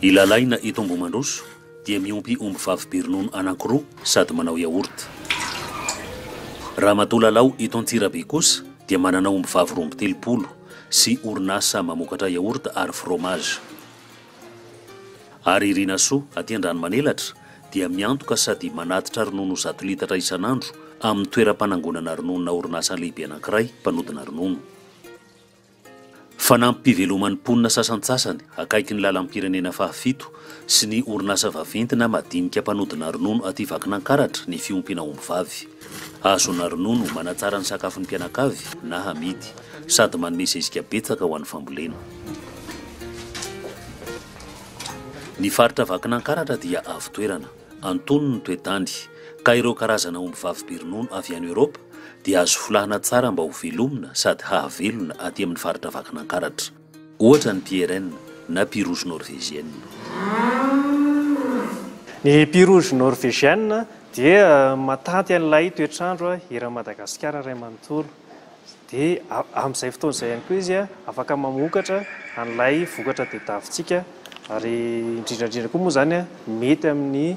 I Lalaina eto Ambohimandroso dia miompy omby vavy be ronono anankiroa sady manao yaourt. Ramatoa Lalao eto Antsirabe kosa dia manana omby vavy roa amby telopolo sy orinasa mamokatra yaourt ary fromage. Ary Irinasoa, aty Andranomanelatra, dia miantoka sady manatitra ronono zato litatra isan'andro amin'ny toeram-panangonana rononona orinasa lehibe anankiray mpanodina ronono. Fanampim-piveloman'ny mponina sasantsasany akaiky ny lalam-pirenena fahafito sy ny orinasa vaventy na madinika mpanodina ronono aty Vakinankaratra ny fiompiana ombivavy. Hazo na ronono manatsara ny sakafon'ny mpianakavy na hamidy, sady manome zezika betsaka ho an'ny fambolena. Ny faritra Vakinankaratra dia avo toerana, antonony ny toe-tany, ka ireo karazana omby vavy be ronono avy any Eoropa dia azo folahana tsara mba ho velomina sady hahavelona aty amin'ny faritra Vakinankaratra. Ohatra ny Pierren na Pie rouge norvégienne. Ny Pie rouge norvégienne dia matanty an'ilay toetr'andro eran'i Madagasikara iray manontolo. Dia amin'izay fotoana izay ihany koa izy afaka mamokatra an'ilay vokatra tadiavintsika ary indrindra indrindra koa moa izany mety amin'ny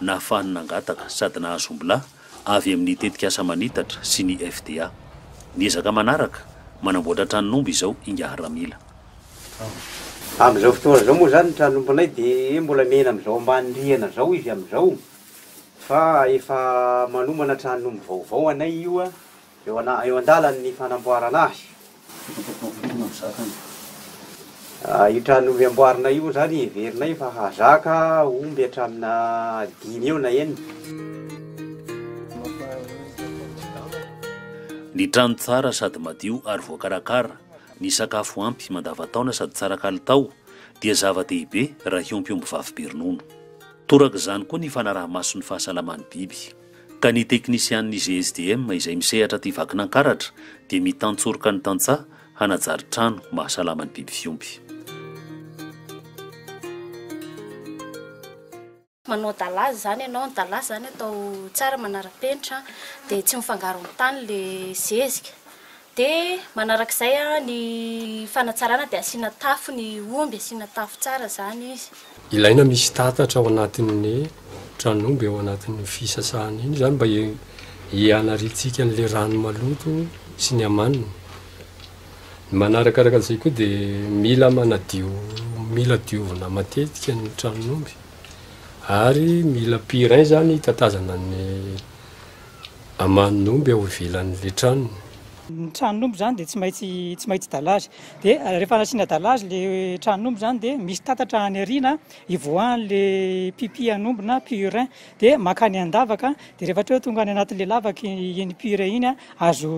nahafahany nangataka sady nahazo ombilahy avy amin'ny tetikasa Manitatra sy ny FDA. Miezaka manaraka manamboatra tranon'omby izao ingahy Ramila. Amin'izao fotoana izao moa izany ny tranon'ombinay dia mbola miaina amin'izao ambany rihana izao izy amin'izao fa efa manomana tranon'omby vaovao anay io Eo an-dalany ny fanamboarana azy. Io trano omby amboarina io moa izany heverinay fa hahazaka omby hatramina dimy eo na enina. Ny trano tsara sady madio ary voakarakara, ny sakafo ampy mandavantaona sady tsara kalitao dia zava-dehibe raha hiompy omby vavy be ronono. Toraka izany koa ny fanaraha-maso ny fahasalaman'ny biby. Ka ny teknisianin'ny GSDM izay misehatra aty Vakinankaratra dia mitantsoroka ny tantsaha hanajary trano mahasalama ny biby fiompy. Manao dalaza izany ianao, ny dalaza izany atao tsara manara-penitra dia tsy mifangaro amin'ny tany ilay zezika. Dia manaraka izay ny fanatsarana dia asiana tafo ny omby, asiana tafo tsara izany izy. Ilaina misy tatatra ao anatin'ny tran'omby ao anatin'io fisasana iny izany mba hianariantsika an'ilay rano maloto sy ny amaniny. Ny manarakaraka an'izay koa dia mila manadio, mila diovina matetika ny tran'omby ary mila purin izany hitatazana ny Aman'omby ao ivelan'ilay tranony. Ny tranon'omby izany dia tsy maintsy tsy maintsy dalazy. Dia rehefa nasiana dalazy ilay tranon'omby izany dia misy tatatra any aoriana ivoahan'ilay pipi an'omby na purin. Dia mankany an-davaka, dia rehefa hatreo tonga any anatin'ilay lavaka iny purin iny, azo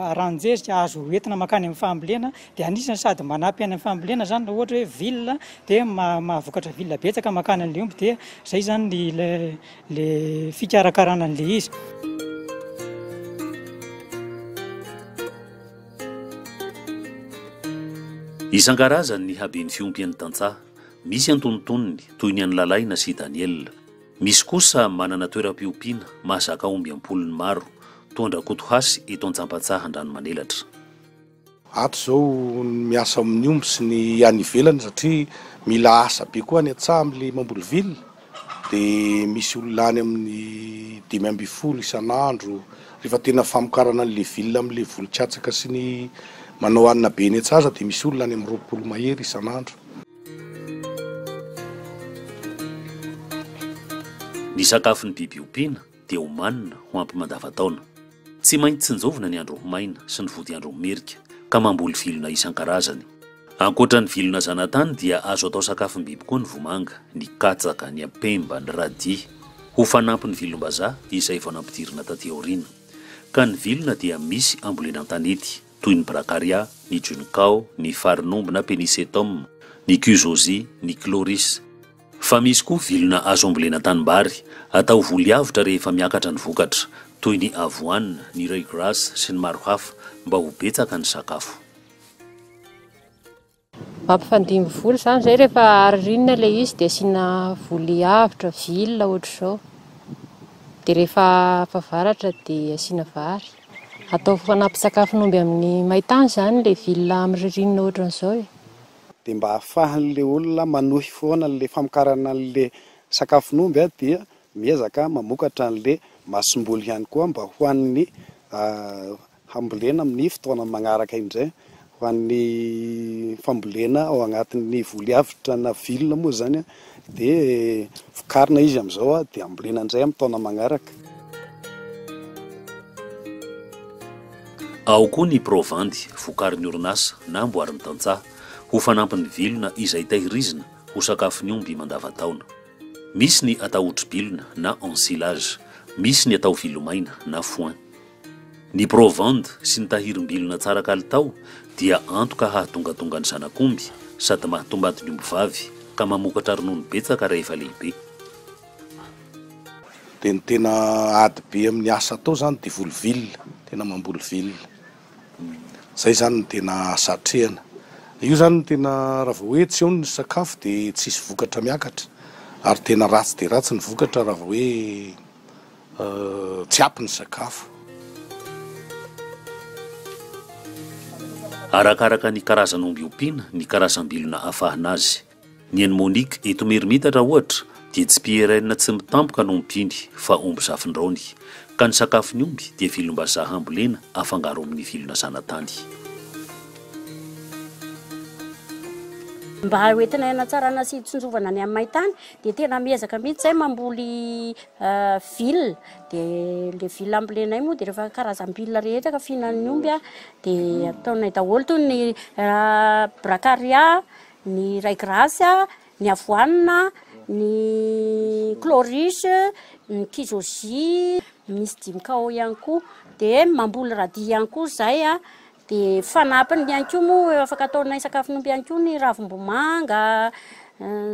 aranjezika, azo entina mankany amin'ny fambolena. Dia anisan'ny sady manampy any amin'ny fambolena izany raha ohatra hoe villa dia ma- mahavokatra villa betsaka mankany an'ilay omby. Dia izay izany ny ilay. le fikarakarana an'le izy. Isan-karazany ny habeny fiompy an'ny tantsaha. Misy antonontonony, toy ny an'i Lalaina sy i Daniela. Misy kosa manana toeram-piompiana, mahazaka omby am-polony maro, toa an-dRakotohasy eto Antsampantsaha Andranomanelatra. Ato izao ny miasa amin'ny omby sy ny any ivelany satria mila asa be koa any an-tsaha amin'ilay mamboly villa dia misy olona any amin'ny dimy ambin'ny folo isan'andro rehefa tena famokarana an'ilay villa amin'ilay voly katsaka sy ny manao hanina be eny an-tsaha aza dia misy olona any amin'ny roapolo mahery isan'andro. Ny sakafon'ny biby ompiana. dia omanina ho ampy mandavantaona. Tsy maintsy tsinjovina ny andro ho maina sy ny vodiandro ho merika, ka mamboly vilona isan-karazany. Ankoatra ny vilona zanatany dia azo atao sakafom-biby koa ny vomanga, ny katsaka, ny ampemba, ny radis, ho fanampin'ny vilom-bazaha izay vao nampidirina taty aoriana. Ka ny vilona dia misy ambolena an-tanety, toy ny bracharia, ny juncao, ny farin'omby na penicetum, ny cusozia, ny chloris. Fa misy koa vilona azo ambolena tanimbary, atao voly avotra rehefa miakatra ny vokatra, toy ny avoine, ny reuil gras sy ny maro hafa, mba ho betsaka ny sakafo. Mampifandimby voly izany izay rehefa aririna ilay izy dia asiana voly avotra, vilona ohatr'izao. Dia rehefa efa varatra dia asiana vary. Atao fanampin-tsakafon'omby amin'ny main-tany izany ilay vilona amin'ny ririnina ohatran'izao e. dia mba ahafahan'ilay olona manohy foana an'ilay famokarana an'ilay sakafon'omby dia miezaka mamokatra an'ilay masomboly ihany koa mba ho an'ny hambolena amin'ny fotoana manaraka indray, ho an'ny fambolena ao anatin'ny voly avitra na vilona moa izany an, Dia vokarina izy amin'izao dia ambolena indray amin'ny taona manaraka. Ao koa ny provandy vokarin'ny orinasa na amboarin'ny tantsaha ho fanampin'ny vilona izay tahirizina ho sakafon'ny omby mandavantaona. Misy ny atao otribilona na ensilage, misy ny atao vilomaina na foin. Ny provandy sy ny tahirim-bilona tsara kalitao dia antoka hahatongatonga ny zanak'omby sady mahatombady ny ombivavy ka mamokatra ronono betsaka rehefa lehibe. Dia ny tena ady be amin'ny asa atao izany dia voly vilona, tena mamboly vilona. Izay izany no tena asa atrehina. Io izany no tena raha vao hoe tsy eo ny sakafo dia tsisy vokatra miakatra ary tena ratsy dia ratsy ny vokatra raha vao hoe. tsy ampy ny sakafo. Arakaraka ny karazan'omby ompiana, ny karazam-bilona afahana azy. Ny an'i Monique eto Merimitatra ohatra dia tsy PRN tsy mitampoka no ompiany fa omby zafindraony. Ka ny sakafon'ny omby dia vilom-bazaha ambolena afangaro amin'ny vilona zanatany. Mba hoentina hanatsarana sy hitsinjovana ny amin'ny main-tany Dia tena miezaka mihitsy izahay mamboly villa, dia ilay villa ambolenay moa dia rehefa karazam-billa rehetra ka fihinan'ny omby a, dia ataonay daholo toy ny bracaria, ny ray grace a, ny avoanina, ny cloris, ny kizoji, misy dimy cao ihany koa, dia mamboly radis ihany koa izahay a. Dia fanampiny ihany koa moa afaka ataonay sakafon'omby ihany koa ny ravim-bomanga,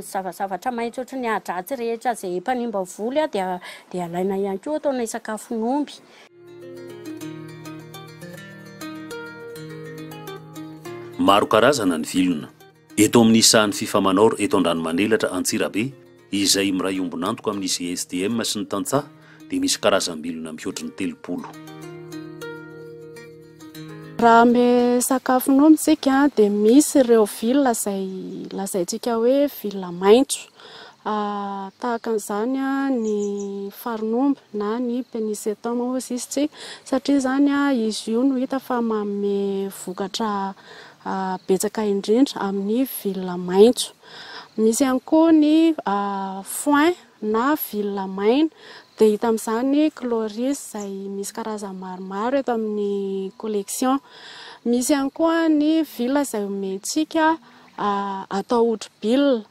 zava-zavatra maitso ohatry ny ahidratsy rehetra izay mpanimba voly dia dia alainay ihany koa ataonay sakafon'omby. Maro karazana ny vilona. Eto amin'ny sahan'ny Fifa Manor eto Andranomanelatra, Antsirabe, izay miray ombon'antoka amin'ny GSDM sy ny tantsaha dia misy karazam-bilona mihoatry ny telopolo. Raha amin'ny sakafo nomintsika dia misy ireo vilona izay lazaintsika hoe vilona maitso. Tahaka an'izany ny farin'omby na ny penisetoma hoy izy isika satria izany izy io no hita fa manome vokatra betsaka indrindra amin'ny vilona maitso. Misy ihany koa ny foin na vilona maina dia hita amin'izany chloris izay misy karazany maromaro eto amin'ny collection. Misy ihany koa ny vilona izay omentsika atao hodibilona.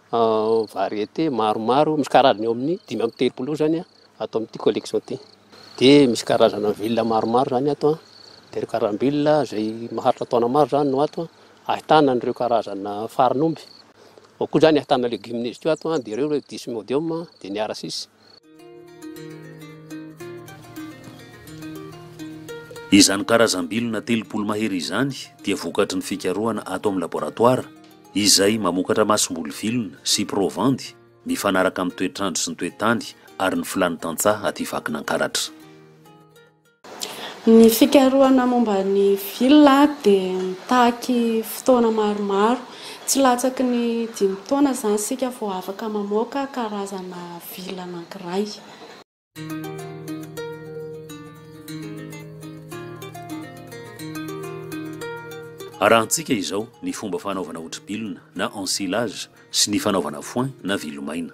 Variété maromaro, misy karazany eo amin'ny dimy amby telopolo eo zany a, ato amin'ity collection ity. Dia misy karazana villa maromaro zany ato a, dia karam-bila izay maharitra taona maro zany no ato a, ahitana an'ireo karazana farin'omby, ao koa zany ahitana légumineuses koa ato a, dia ireo le dysmodium, dia ny arasis. Izany karazam-bilona telopolo mahery izany dia vokatry ny fikarohana ato amin'ny laboratoara izay mamokatra masomboly vilona sy provandy mifanaraka amin'ny toetr'andro sy ny toe-tany ary ny filàn'ny tantsaha aty Vakinankaratra. Ny fikarohana momba ny villa dia mitaky fotoana maromaro. Tsy latsaky ny dimy taona izany isika vao afaka mamoaka karazana villa anankiray. Arahantsika izao ny fomba fanaovana hotribilona na ensilage sy ny fanaovana foin na vilo maina.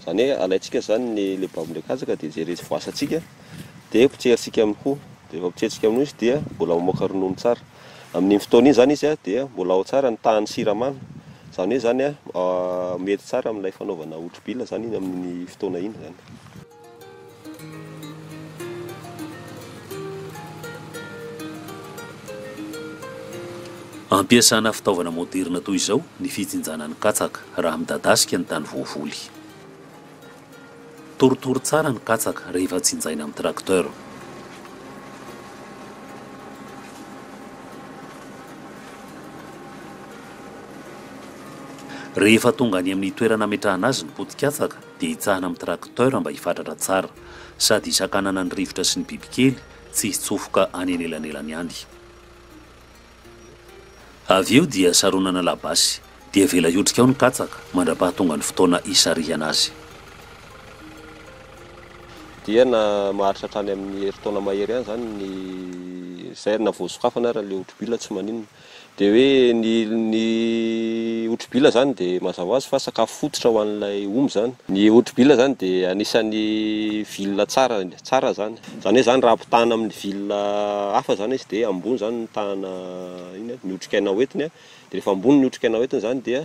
Izany hoe alaintsika izany ny le baby ndray katsaka dia jerentsika voasantsika dia potserintsika amin'ny hoho dia rehefa potserintsika amin'ny hoho izy dia mbola mamoaka ronono tsara amin'iny fotoana iny izany izy dia mbola ao tsara ny tahan'ny siramamy izany hoe izany mety tsara amin'ilay fanaovana hotrobila izany iny amin'ny fotoana iny izany Ampiasana fitaovana moderina toy izao ny fijinjana ny katsaka raha midadasika ny tany voavoly. Torotoro tsara ny katsaka rehefa jinjaina amin'ny tracteur. Rehefa tonga any amin'ny toerana ametrahana azy ny poti-katsaka, dia hitsahana amin'ny tracteur mba hifatratra tsara, sady hisakanana ny rivotra sy ny bibikely tsy hitsofoka any anelanelany any. Avy eo dia saronana labasy, dia avela hiotrika ao ny katsaka mandra-pahatonga ny fotoana hisarihana azy. Dia na maharitra hatrany amin'ny herintaona mahery any izany ny, izay ary na voasokafana ary ilay hotro-bila tsy maninona. Dia hoe ny ny otribila izany dia mazava ho azy fa sakafo fototra ho an'ilay omby izany. Ny otribila izany dia anisan'ny villa tsara tsara izany. Izany hoe izany raha ampitahana amin'ny villa hafa izany izy dia ambony izany ny tahana iny an, ny otrikaina hoentiny an, dia rehefa ambony ny otrikaina hoentiny izany dia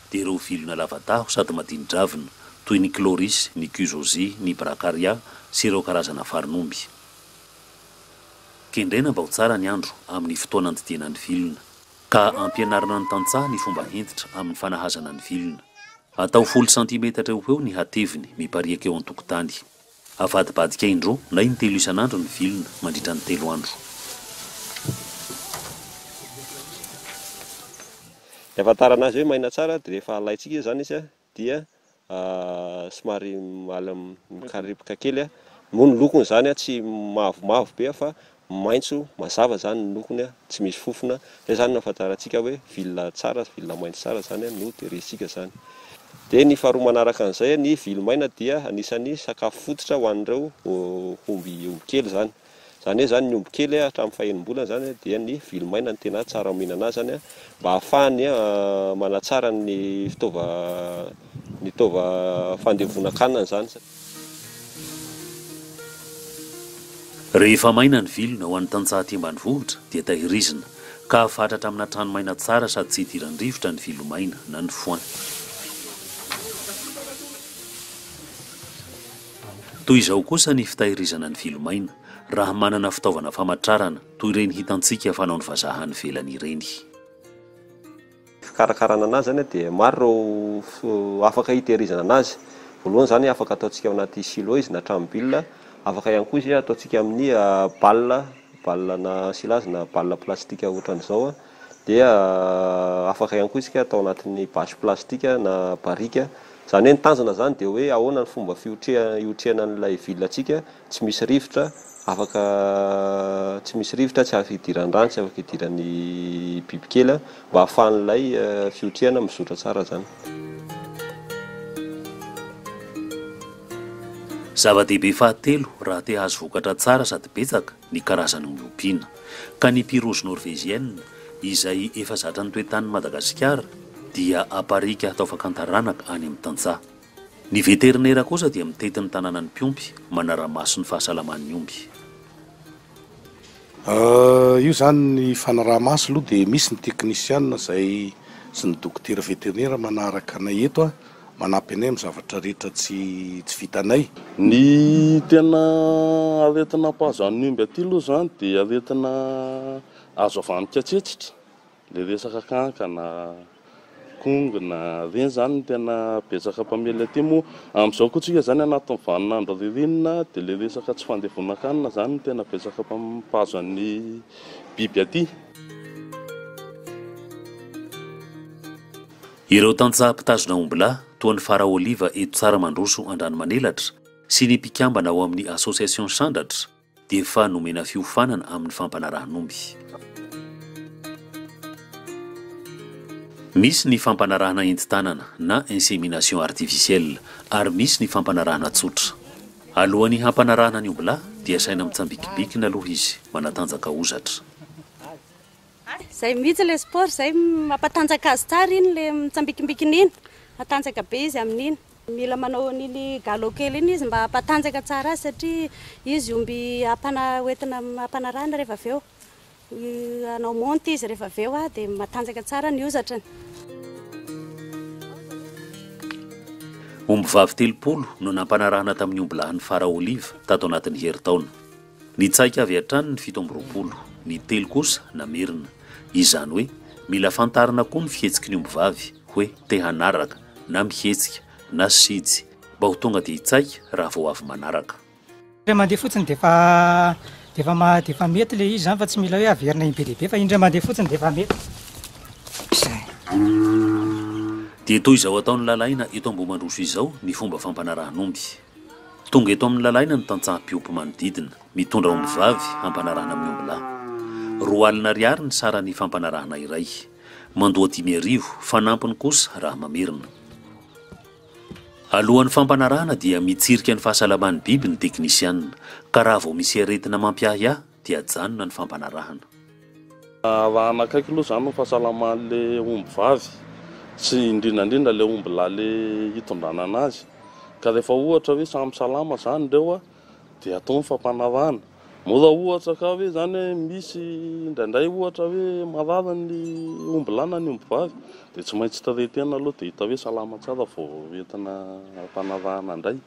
dia ireo vilona lava-taho sady madini-dravina, toy ny Chloris, ny Cujosie, ny Bracharia sy ireo karazana farin'omby. Kendrena mba ho tsara ny andro amin'ny fotoana andidiana ny vilona, ka ampianarina ny tantsaha ny fomba hentitra amin'ny fanahazana ny vilona. Atao folo santimetatra eo ho eo ny hateviny mipariaka eo an-tokotany. Avadibadika indroa na intelo isan'andro ny vilona, mandritra ny telo andro. Ny ahafantarana azy hoe maina tsara dia rehefa alaintsika izy izany izy dia somary mikarepoka kely moa ny lokony izany tsy mavomavo be fa maitso mazava zany ny lokony a, tsy misy fofona, zay zany no ahafantarantsika hoe villa tsara, villa maitso tsara zany a no tehirizitsika zany. Dia ny faharoa manaraka an'izay a, ny vily maina dia anisan'ny sakafo fototra ho an'ireo omby omby kely zany. Zany hoe zany ny omby kely a hatramin'ny fahenim-bolany zany a dia ny vily maina no tena tsara mihinana azy zany a mba hahafahany a manatsara ny fitaova ny taova fandevonan-kanina zany. Rehefa maina ny vilona ho an'ny tantsaha aty ambanivohitra dia tahirizina ka afatratra amina trano maina tsara sady tsy hidiran-drivotra ny vilo maina na ny foin. Toy izao kosa ny fitahirizana ny vilo maina raha manana fitaovana famatrarana toy ireny hitantsika fanaon'ny vazaha any ivelany ireny. fikarakarana anazy izany dia maro ireo afaka hitehirizana anazy. Voalohany izany afaka ataontsika ao anaty silo izy na trano bila, afaka ihany koa izy ataontsika amin'ny bal, bal na silage na bal plastika ohatran'izao dia afaka ihany koa isika atao anatin'ny basy plastika na barika, izany hoe ny tanjona izany dia hoe ahoana ny fomba fiotreha- hiotrehana an'ilay villa-tsika. tsy misy rivotra, afaka tsy misy rivotra, tsy afaka idiran'ny rano, tsy afaka idiran'ny bibikely an, mba ahafahan'ilay fihotrehana mizotra tsara izany. Zava-dehibe fahatelo raha te hahazo vokatra tsara sady betsaka ny karazany miompiana, ka ny Pyrrhus norvégienne, izay efa zatra ny toe-tanin'i Madagasikara, dia aparika hatao fakan-taranaka any amin'ny tantsaha. Ny veterinera kosa dia mitety ny tananan'ny mpiompy, manara-maso ny fahasalaman'ny omby. Io izany ny fanaraha-maso aloha dia misy ny teknisiana izay sy ny dokotera veterinera manaraka anay eto, manampy anay amin'ny zavatra rehetra tsy tsy vitanay. Ny tena aretina mpahazo an'ny omby aty aloha izany dia aretina azo avy amin'ny katsetsitra. Ilay resaka kankana, kongona, ireny izany no tena betsaka mpamely aty moa amin'izao koa tsika izany anatin'ny vanin'andro ririnina dia ilay resaka tsy fandevonan-kanina izany no tena betsaka mpahazo an'ny biby aty. Ireo tantsaha mpitazona ombilahy, toa ny Fara Oliva eto Tsara mandroso an-dranomanelatra, sy ny mpikambana ao amin'ny Association Sandratra, dia efa nomena fiofanana amin'ny fampanarahan'omby. Misy ny fampanarahana entin-tanana na insémination artificielle ary misy ny fampanarahana tsotra. Alohan'ny hampanarahana ny ombilahy dia asaina mitsambikibikina aloha izy, manatanjaka hozatra. Izay mihitsy ilay sport izay mampatanjaka azy tsara iny ilay mitsambikimbikina iny, matanjaka be izy amin'iny. Mila manao an'iny galop kely iny izy mba hampatanjaka tsara azy satria izy omby hampana hoentina hampanarahana rehefa avy eo. Hanao monte izy rehefa avy eo dia matanjaka tsara ny hozatrany. Ombivavy telopolo no nampanarahana tamin'ny ombilahin'ny Fara Olive tato anatin'ny herintaona. Nitsaika avy hatrany ny fito amby roapolo, ny telo kosa namerina. Izany hoe mila fantarina koa ny fihetsiky ny ombivavy hoe te hanaraka, na mihetsika, na sijy, mba ho tonga dia hitsaika raha vao avy manaraka. Indray mandeha fotsiny dia efa, dia efa ma, dia efa mety ilay izy izany fa tsy mila hoe averina im-be dia be fa indray mandeha fotsiny dia efa mety. Izay. Dia toy izao ataon'i Lalaina eto Ambohimandroso izao ny fomba fampanarahan'omby. Tonga eto amin'ny lalaina ny tantsaha mpiompy manodidina, mitondra ombivavy hampanarahana amin'ny ombilahy. Roa alina ariary ny saran'ny fampanarahana iray. Mandoa dimy arivo, fanampiny kosa raha mamerina. Alohan'ny fampanarahana dia mitsirika ny fahasalaman'ny biby ny teknisianina, ka raha vao misy aretina mampiahiahy dia ajanona ny fampanarahana. Arahan'akaiky aloha izany ny fahasalaman'ilay omby vavy sy indrindra indrindra ilay omby lahy le hitondrana anazy. Ka rehefa ohatra hoe samy salama izany ireo dia atao ny fampanarahana. Mora ohatra ka hoe izany hoe misy indraindray ohatra hoe marary ny omby lahy na ny omby vavy dia tsy maintsy traiter-na aloha dia hita hoe salama tsara vao entina ampanarahana indray.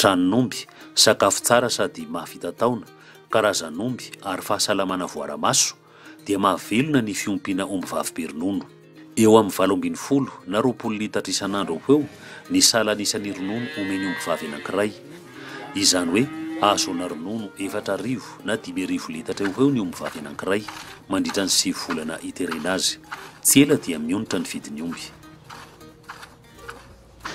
Tranon'omby, sakafo tsara sady mahavita taona, karazan'omby ary fahasalamana voara-maso, dia mahavelona ny fiompiana ombivavy be ronono. Eo amin'ny valo ambin'ny folo na roapolo litatra isan'andro eo ho eo ny salan'ny isan'ny ronono omen'ny ombivavy anankiray. Izany hoe ahazoana ronono efatra arivo na dimy arivo litatra eo ho eo ny ombivavy anankiray mandritra ny sivy volana iterena azy. Tsy ela dia mionitra ny vidin'ny omby.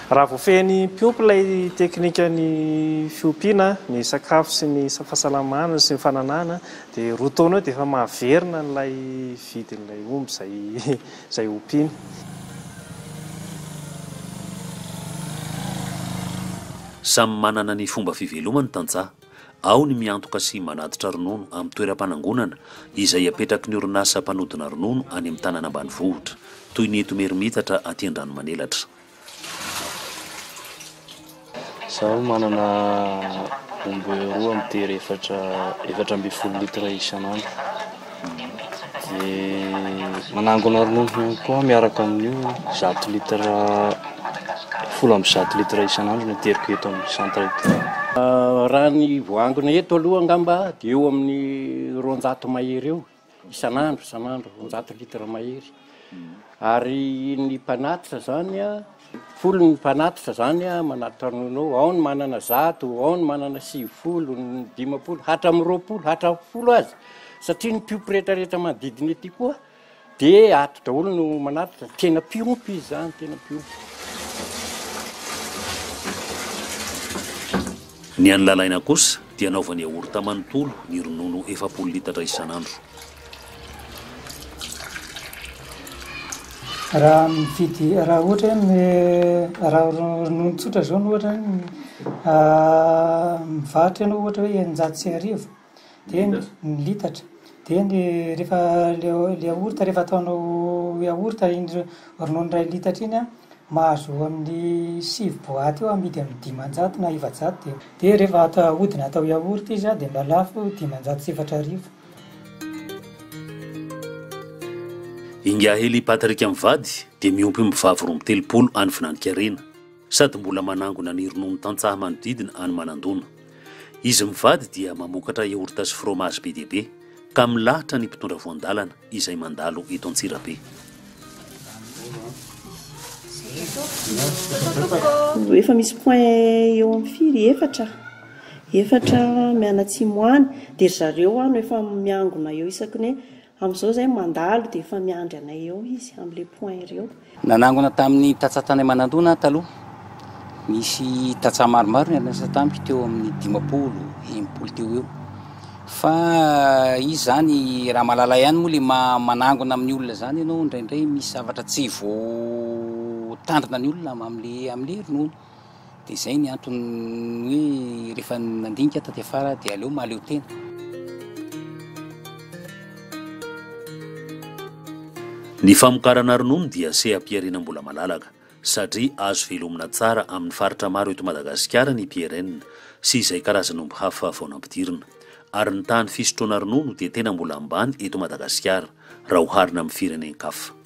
Raha voafehin'ny mpiompy ilay teknikan'ny fiompiana ny sakafo sy ny fahasalamana sy ny fananahana dia roa taona eo dia efa mahaverina an'ilay vidin'ilay omby izay izay ompiany. Samy manana ny fomba fivelomany tantsaha. Ao ny miantoka sy manatitra ronono amin'ny toeram-panangonana izay apetraky ny orinasa mpanodina ronono any amin'ny tanàna ambanivohitra, toy ny eto Imerimitatra aty Andranomanelatra. Izaho manana omby roa mitery efatra, efatra ambin'ny folo litre isan'andro. Dia manangona ronono koa miaraka amin'io zato litre, folo amby zato litre isan'andro no ateriko eto amin'ny centre eto. Raha ny voaangona eto aloha angamba dia eo amin'ny roanjato mahery eo isan'andro, isan'andro roanjato litre mahery. Ary ny mpanatitra izany an! Folo ny mpanatitra izany a, manatitra ny ronono, ao ny manana zato, ao ny manana sivifolo, ny dimampolo, hatramin'ny roapolo, hatramin'ny folo aza, satria ny mpiompy rehetra rehetra manodidina ety koa dia ato daholo no manatitra, tena mpiompy izy izany, tena mpiompy. Ny an'i Lalaina kosa dia anaovany yaourt manontolo ny ronono efapolo litatra isan'andro. Raha mividy, raha ohatra hoe raha ronono tsotra zao no ohatra hoe mivarotra ianao ohatra hoe eninjato sy arivo de ny litatra de ny rehefa le yaourt rehefa ataonao yaourt iny ronono ray litatra iny an, mahazo eo amin'ny sivy boaty eo amidy amin'ny dimanjato na efajato de, de rehefa ata- ahodina atao yaourt izy an de mba lafo dimanjato sy efatra arivo. Ingaheli Patrick mivady dia miompimby vavy roa amby telopolo any Finanikarena sady mbola manangona ny ronono tantsaha manodidina any Manandona. Izy mivady dia mamokatra yaourt sy fromage be dia be ka milahatra ny mpitondra voan-dalana izay mandalo eto Antsirabe. Efa misy point eo amin'ny firy? Efatra. efatra mianatsimo any dia ry zareo any no efa miangona eo isaky ny hoe amin'izao izay mandalo dia efa miandry anay eo izy amin'ilay point ireo. Nanangona tamin'ny tantsaha tany Manandona aho taloha. Nisy tantsaha maromaro niara-niasa tamiko teo amin'ny dimampolo, enimpolo teo ho eo. Fa izy izany raha mahalala ihany moa ilay maha manangona amin'ny olona izany ianao indraindray misy zavatra tsy voatandrina ny olona amin'ilay amin'ilay ronono. Dia izay ny antony hoe rehefa nandinika aho taty afara aho dia aleo mahaleo tena. Ny famokarana ronono dia seha-pihariana mbola malalaka satria azo velomina tsara amin'ny faritra maro eto Madagasikara ny PRN sy izay karazan'omby hafa vao nampidirina. Ary ny tahan'ny fisotroana ronono dia tena mbola ambany eto Madagasikara raha oharina amin'ny firenen-kafa.